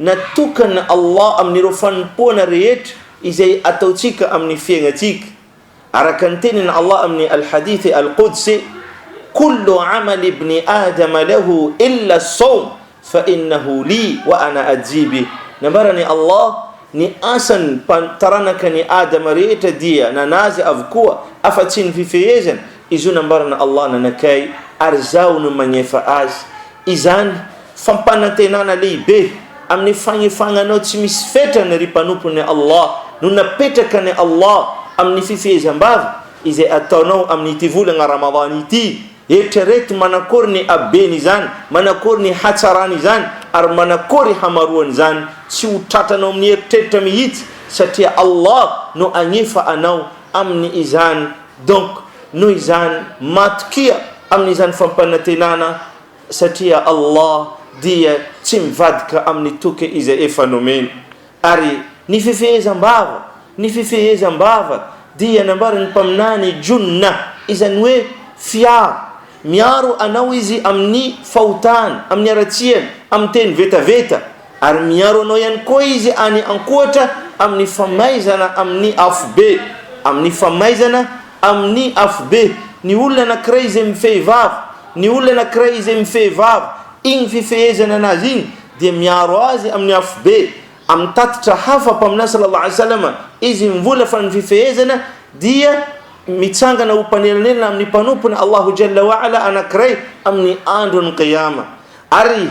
Natokana Allah amin'ireo fanompoana rehetra izay ataontsika amin'ny fiainantsika, araka ny tenin' Allah amin'ny Al-Hadith Al-Qudsi, Kullu 'amal ibni Adama lahu illa as-sawm fa innahu li wa ana ajzi bih, Nambaran'i Allah, Ny asan'ny taranaka an'i Adama rehetra dia nanazy avokoa afa-tsy ny fifehezana, Izy io nambaran' Allah nanakay ary Izaho no magnefa azy. Izany fampanantenana lehibe amin' ny fagnefagnanao tsy misy fetrany ry mpanompon' ny Allah no napetrakan' i Allah amin' ny fifehezam-bava izay ataonao amin' ity volagna Ramadany ity. Eritrereto manakôry ny haben' izany, manakôry ny hatsaran' izany ary manakôry hamaroan' izany, tsy ho tratranao amin' ny eritreritra mihitsy satria Allah no agnefa anao amin' izany. Donc noho izany matokia amin'izany fampanantenana satria Allah dia tsy mivadika amin'ny toky izay efa nomeny. Ary ny fifehezam-bava, ny fifehezam-bava dia nambaran'ny Mpaminany Junnah, izany hoe fiaro, miaro anao Izy amin'ny fahotana, amin'ny haratsiana, amin'ny teny vetaveta. Ary miaro anao ihany koa Izy any an-kohatra amin'ny famaizana amin'ny afobe, amin'ny famaizana amin'ny afobe. Ny olona anankiray izay mifehy vava, ny olona anankiray izay mifehy vava, iny fifehezany an'azy iny dia miaro azy amin'ny afobe. Amin'ny tatitra hafa, Mpaminany sallallahu alayhi wa sallam, izy mivola fa ny fifehezana dia mitsangana ho mpanelanelana amin'ny mpanompony Allahu jalla wa ala anankiray amin'ny andron'ny Qiyama. Ary.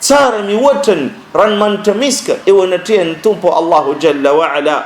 Tsara mihoatra ny ranomanitra miska eo anatrehan'ny Tompo Allahu Jalla wa Ala.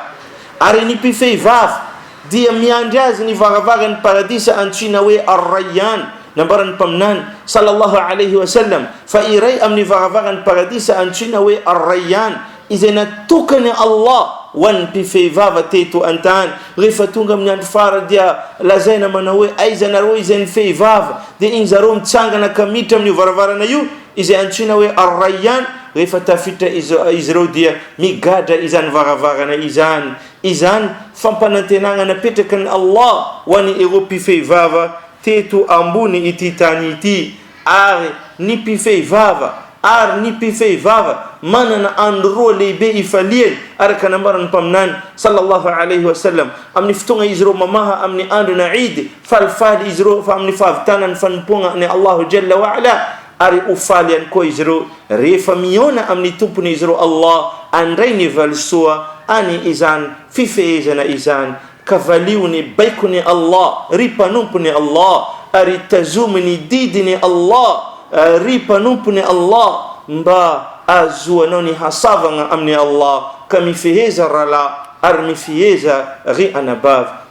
Ary ny mpifehy vava dia miandry azy ny varavaran'ny Paradisa antsoina hoe Ar-Rayyan. Nambaran'ny Mpaminany, sallallahu alayhi wa sallam, fa iray amin'ny varavaran'ny Paradisa antsoina hoe Ar-Rayyan izay natokan'i Allah ho an'ny mpifehy vava teto an-tany. Rehefa tonga amin'ny andro farany dia lazaina manao hoe, Aiza nareo izay nifehy vava? Dia iny zareo mitsangana ka miditra amin'io varavarana io. Izay antsoina hoe Ar-Rayyan rehefa tafiditra izy ireo dia migadra izany varavarana izany. Izany fampanantenana napetraky ny Allah ho an' ireo mpifehy vava teto ambony ity tany ity. Ary ny mpifehy vava ary ny mpifehy vava manana andro roa lehibe ifaliany araka ny nambaran' ny Mpaminany, sallallahu alayhi wa sallam, amin' ny fotoana izy ireo mamaha amin' ny andron' Eid, Falifaly izy ireo fa amin'ny fahavitana ny fanompoagna an'i Allaahu Jalla wa Ala, ary ho faly ihany koa izy ireo rehefa mihaona amin'ny Tompony izy ireo Allah handray ny valisoa any izany fifehezana izany. Ka valio ny baikon'i Allah, ry mpanompon'i Allah, ary tazomy ny didin'i Allah, ry mpanompon'i Allah, mba ahazoanao ny hasavagna amin'i Allah, ka mifeheza ralahy ary mifeheza ry anabavy.